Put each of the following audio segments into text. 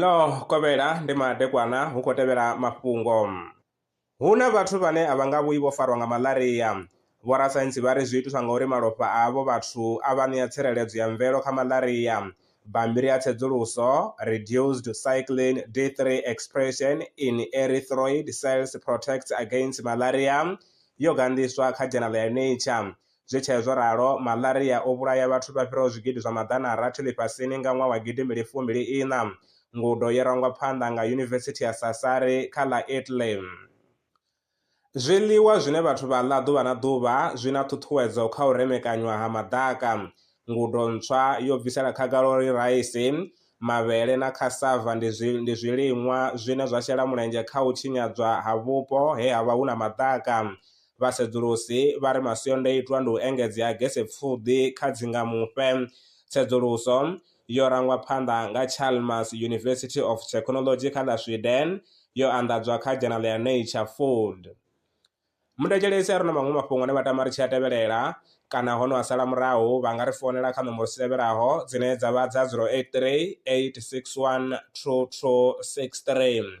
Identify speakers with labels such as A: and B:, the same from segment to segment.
A: Ḽo kovhela ndi madekwana hu khou tevhela mafhungo. Hu na vhathu vhane a vha nga vhuyi vho farwa nga malaria. Vhorasaintsi vha ri zwi itiswa ngauri malofha a avho vhathu a vha ṋea tsireledzo ya mvelo kha malaria. Bammbiri ya tsedzuluso, Reduced Cyclin D-three Expression in Erythroid Cells Protects Against Malaria, yo ganḓiswa kha dzhenala ya Nature. Zwi tshee zwo ralo, malaria o vhulaya vhathu vha fhiraho zwigidi zwa maḓana a rathi ḽifhasini nga ṅwaha wa gidi mbili fumbili iṋa. Ngudo yo rangwa phanḓa nga Yunivesithi ya Sassari kha ḽa Italy. Zwiḽiwa zwine vhathu vha ḽa ḓuvha na ḓuvha zwi na ṱhuṱhuwedzo kha u remekanywa ha maḓaka. Ngudo ntswa yo bvisela khagala uri raisi, mavhele na cassava ndi zwi ndi zwiliṅwa zwine zwa shela mulenzhe kha u tshinyadzwa ha vhupo he ha vha hu na maḓaka. Vhasedzulusi vha ri masiandoitwa ndi u engedzea ha gesepfuḓi kha dzingamufhe. Tsedzuluso yo rangwa phanḓa nga Chalmers University of Technology kha ḽa Sweden yo anḓadzwa kha dzhenala ya Nature Food. Mundetshelesi a re na maṅwe mafhungo ane vha tama ri tshi a tevhelela kana ho no a sala murahu vha nga ri founela kha nomboro dzi tevhelaho dzine dza vha dza 083 861 2263.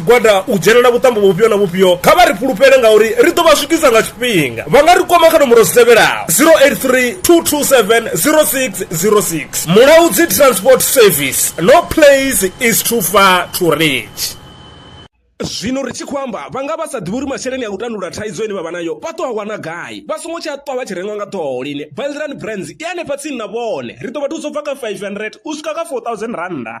B: gwada u dzhenela vhuṱambo vhufhio na vhufhio kha vha ri fhulufhele ngauri ri ḓo vha swikisa nga tshifhinga vha nga ri kwama kha nomboro dzi tevhelaho 0832270606 mulaudzi transport service no place is too far to reach zwino ri tshi khou amba vha nga vha sa ḓivhi uri masheleni a u tandulula thaidzo ine vha vha nayo vha ṱo a wana gai vha songo tsha ṱwa vha tshi rengwa nga ṱhoho lini valdrand brands i hanefha tsini na vhone ri ḓo vha thusa u bva kha 500 u swika kha 4000 rannda